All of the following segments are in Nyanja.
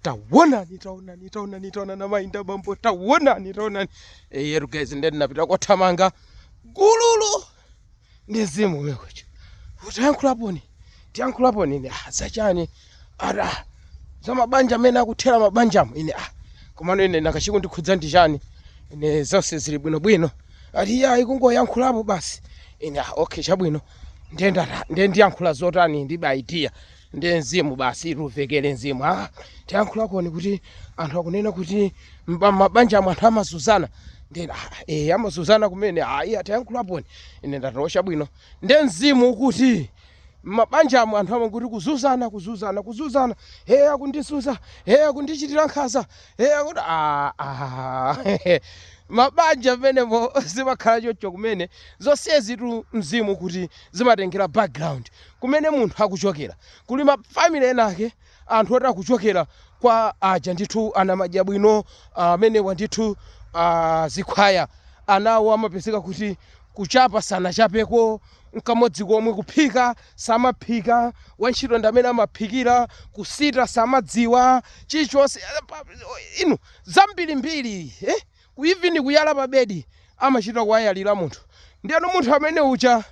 tawonani tawonani tawonani tawonani amayi ndi abambo tawonani tawonani eyeru guys nde ndinapita kothamanga gulugulu ndi mzimu umvekere atayankhulaponi tiyankhulaponi ine ah, zachani aa za mabanja amene akuthera mabanjamo ine ah, komano ine nanga chikundikhudza ndi chani ine zonse zili bwinobwino ati iyayi kungoyankhulapo basi ine ah, okay chabwino ndiye ndata- ndiye ndiyankhula zotani ndilibe idea ndi mzimu basi umvekere mzimu ah, tiyankhulaponi kuti anthu akunena kuti mba- mabanja amwe anthu amazuzana ndi ah, eh, amazuzana kumene ayi atiyankhulaponi ine ndachosa bwino ndi mzimu akuti mabanja amwe anthu amwe kuti kuzuzana kuzuzana kuzuzana he akundizuza he akundichitira nkhaza he akuti ah, ah. mabanja amenewo zimakhala chocho kumene zonsezitu mzimu kuti zimatengera background kumene munthu akuchokera kuli ma family ena ake anthu oti akuchokera kwa aja ndithu anamadya bwino amenewa ndithu ah, zikhwaya anawo amapezeka kuti kuchapa sanachapeko mkamodzi komwe kuphika samaphika wantchito ndi amene amaphikira kusita samadziwa chilichonse Eh, zinthu zambirimbiri eh? ku even kuyala pa bed amachita kuwayalira munthu ndiyeno munthu amene uja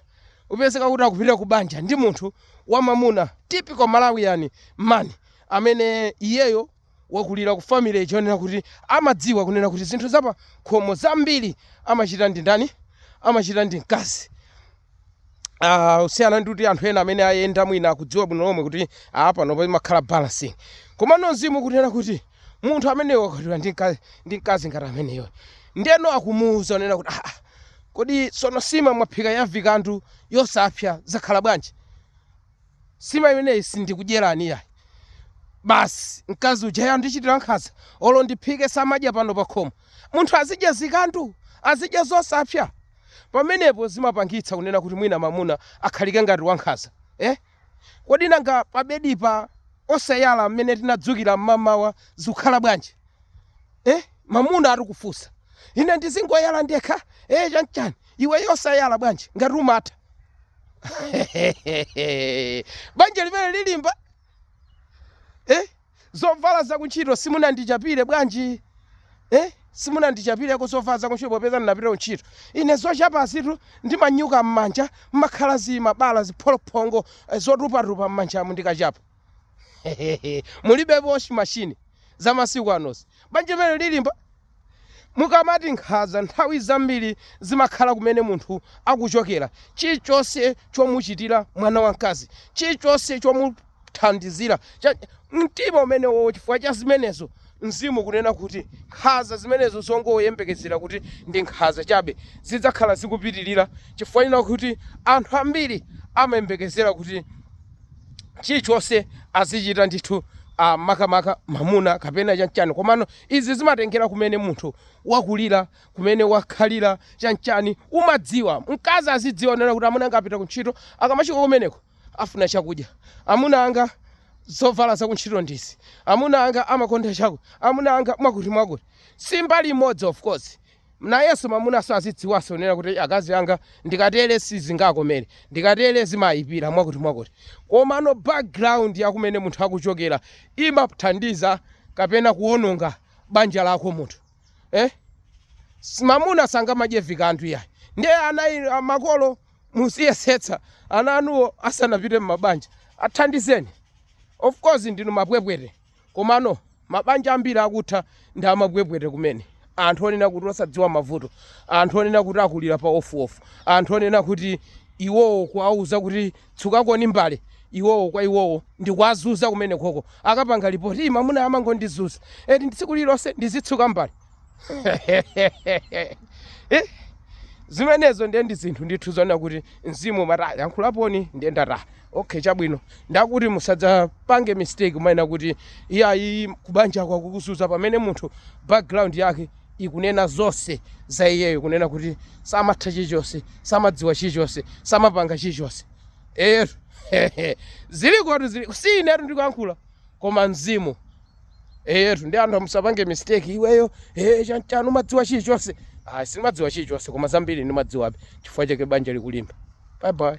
apezeka kuti akupitira ku banja ndi munthu wamamuna typical malawian man amene iyeyo wakulira ku family chonena kuti amadziwa kunena kuti zinthu zapa khomo zambiri amachita ndi ndani amachita ndi mkazi uh, kusiyana ndi kuti anthu ena amene ayenda mwina akudziwa bwino lomwe kuti ah, pano pamakhala balancing komano mzimu ukunena kuti munthu amene wakwatira ndi mka- ndi mkazi ngati ameneyo ndeno akumuwuza kunena kuti ah, kodi sono nsima mwaphika yavikandu yosapsa zakhala bwanji Nsima imeneyi sindikudyerani iyayi. Basi mkazi uja, eya akundichitira nkhanza, olo ndiphike samadya pano pakhomo. Munthu azidya zikandu? Azidya zosapsa? Pamenepo zimapangitsa kunena kuti mwina mamuna akhale ngati wankhanza. Eh? Kodi nanga pabedipa osayala mmene tinadzukira mmamawa zikukhala bwanji? Eh? Mamuna akufunsa. Ine ndizingoyala ndekha? Eh, chanchani? iweyo osayala bwanji ngati umatha banja limeneli lilimba eh? zovala zakuntchito simunandichapire bwanji eh? simunandichapireko zovala zakuntchito popeza ndinapita kuntchito ine zochapazitu ndimanyuka m'manja mmakhala zimabala zipholophongo eh, zotupatupa m'manjamu ndikachapa mulibe washing machine za masiku anozi banja limeneli lilimba Mukamati nkhaza, nthawi zambiri zimakhala kumene munthu akuchokera. Chilichonse chomuchitira mwana wamkazi, chilichonse chomuthandizira, cha, mtima umenewowo, chifukwa cha zimenezo, mzimu kunena kuti nkhaza zimenezo zongoyembekezera kuti ndi nkhaza chabe zidzakhala zikupitirira chifukwa chonena kuti anthu ambiri amayembekezera kuti chilichonse azichita ndithu ah, makamaka mamuna kapena chanchani komano Izi zimatengera kumene munthu wakulira, kumene wakhalira, chanchani. Umadziwa, mkazi azidziwa kunena kuti amuna anga apita ku ntchito, akamafika kumeneko afuna chakudya. Amuna anga zovala za ku ntchito ndizi. Amuna anga amakonda chaku. Amuna anga mwakuti mwakuti. Si mbali imodzi of course. Nayenso mamunanso azidziwanso kunena kuti akazi anga ndikatere sizingakomere, ndikatere zimayipira mwakutimwakuti. Komano background ya kumene munthu akuchokera imathandiza kapena kuwononga banja lako munthu. Eh? S- Mamuna sangamadye chikanthu yayi. Ndiye ana inu- a- makolo muziyesetsa ana anuwo asanapite m'mabanja. Athandizeni. Of course ndinu mapwepwete. Komano, mabanja ambiri akutha ndi amapwepwete kumene, anthu onena kuti osadziwa mavuto, anthu onena kuti akulira pa wofewofewo, anthu onena kuti iwowo kuwauza kuti tsukakoni mbale, iwowo kwa iwowo ndi kuwazunza kumene koko. Akapanga lipoti, ii, mamuna amangondizunza, eti ndi tsiku lililonse ndizitsuka mbale. Eh, Zimenezo ndiye ndi zinthu ndithu zonena kuti mzimu umati "Ah, yankhulaniponi ndiye ndataya. okay chabwino ndati musadzapange mistake kumanena kuti iyayi kubanja kwakukuzunza pamene munthu background yake ikunena zonse za iyeyo kunena kuti samatha chilichonse samadziwa chilichonse samapanga chilichonse ero zilikotu zili si inetu ndikuyankhula koma mzimu eyetu ndi anthu musapange mistake iweyo eh, chan- chanu mumadziwa chilichonse ah, sindimadziwa chilichonse koma zambiri ndimadziwabe chifukwa chake banja likulimba bye bye